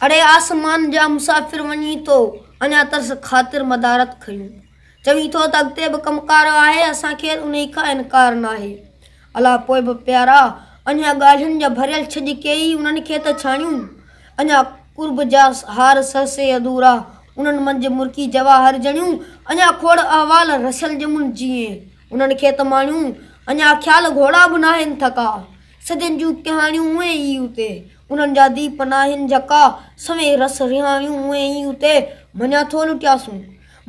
اڙي آسمان جا مسافر وڃين تو اڃا ترس خاطر مدارت کڻيون چوين ٿو ته اڳتي به ڪم ڪار آهي اسان کي انهي کان انڪار ناهي الا پوء به پيارا اڃا ڳالهين جا ڀريل ڇڄ ڪيئي انهن کي ته ڇاڻيون اڃا قرب جا هار سرسي ادورا انهن منجهه مرڪي جواهر جڻيون اڃا کوڙ احوال رسيل ڄمن جيئي انهن کي ته ماڻيون اڃا خيال گهوڙا به ناهن ٿڪا سڄن جون ڪهاڻيون اونهي ئي اتي انهن جا دي پناهين جڪا، سوين رس رهايون اونهين ئي اتي، مڃان ٿو لٽياسون،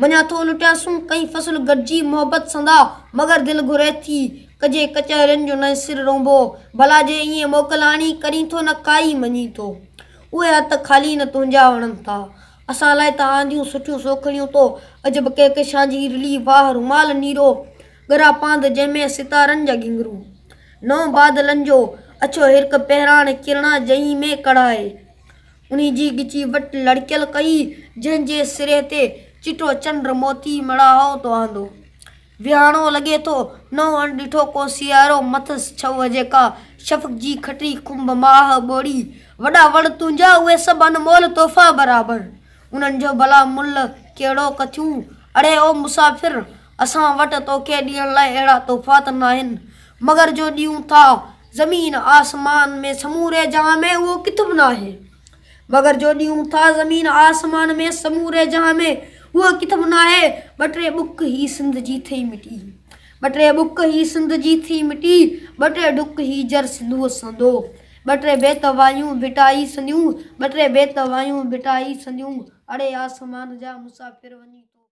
مڃان ٿو لٽياسون، ڪئين فصل گڏجي محبت سندا، مگر دل گهري ٿي، ڪجي ڪچهرين جو نئين سر رونبو، ڀلا جي ائين موڪل آڻي، ڪرين ٿو نه ڪائي مڃين ٿو، اهي هٿ خالي نه تنهنجا وڻن ٿا، اسان لاء ته آنديون سٺيون سوکڙيون تو، عجب ڪهڪشان جي رلي واهه رومال نيرو، ڳرا پانڌ جنهن ۾ ستارن جا گهنگهرو. نئون بادلن جو اڇو هرڪ پهراڻ ڪرڻا جنهن ۾ ڪڙهائي. انهي جي ڳچي وٽ لڙڪيل ڪئي جنهن جي سري تي چٽو چنڊ موتي مڙاهو ٿو آندو. ويهاڻو لڳي ٿو نئون اڻ ڏٺو ڪو سيارو مٿس ڇوهه جيڪا شفق جي کٽري کنڀ ماهه ٻوڙي. وڏا وڻ تنهنجا اهي سڀ انمول تحفا برابر انهن جو ڀلا ملهه ڪهڙو ڪٿيون اڙي او مسافر! اسان وٽ توکي ڏيڻ لاء اهڙا تحفات ناهن، مگر جو ڏيون ٿا زمين آسمان ۾، سموري جهان ۾ اهو ڪٿ به ناهي. مگر جو ڏيون ٿا زمين آسمان ۾، سموري جهان ۾ اهو ڪٿ به ناهي. ٻه ٽي ٻڪ هي سنڌ جي ٿئي مٽي. ٻه ٽي ٻڪ هي سنڌ جي ٿئي مٽي، ٻه ٽي ڍڪ هي جر سنڌوء سندو. ٻه ٽي بيت وايون ڀٽائي سنديون، ٻه ٽي بيت وايون ڀٽائي سنديون، اڙي آسمان جا مسافر وڃي توکي.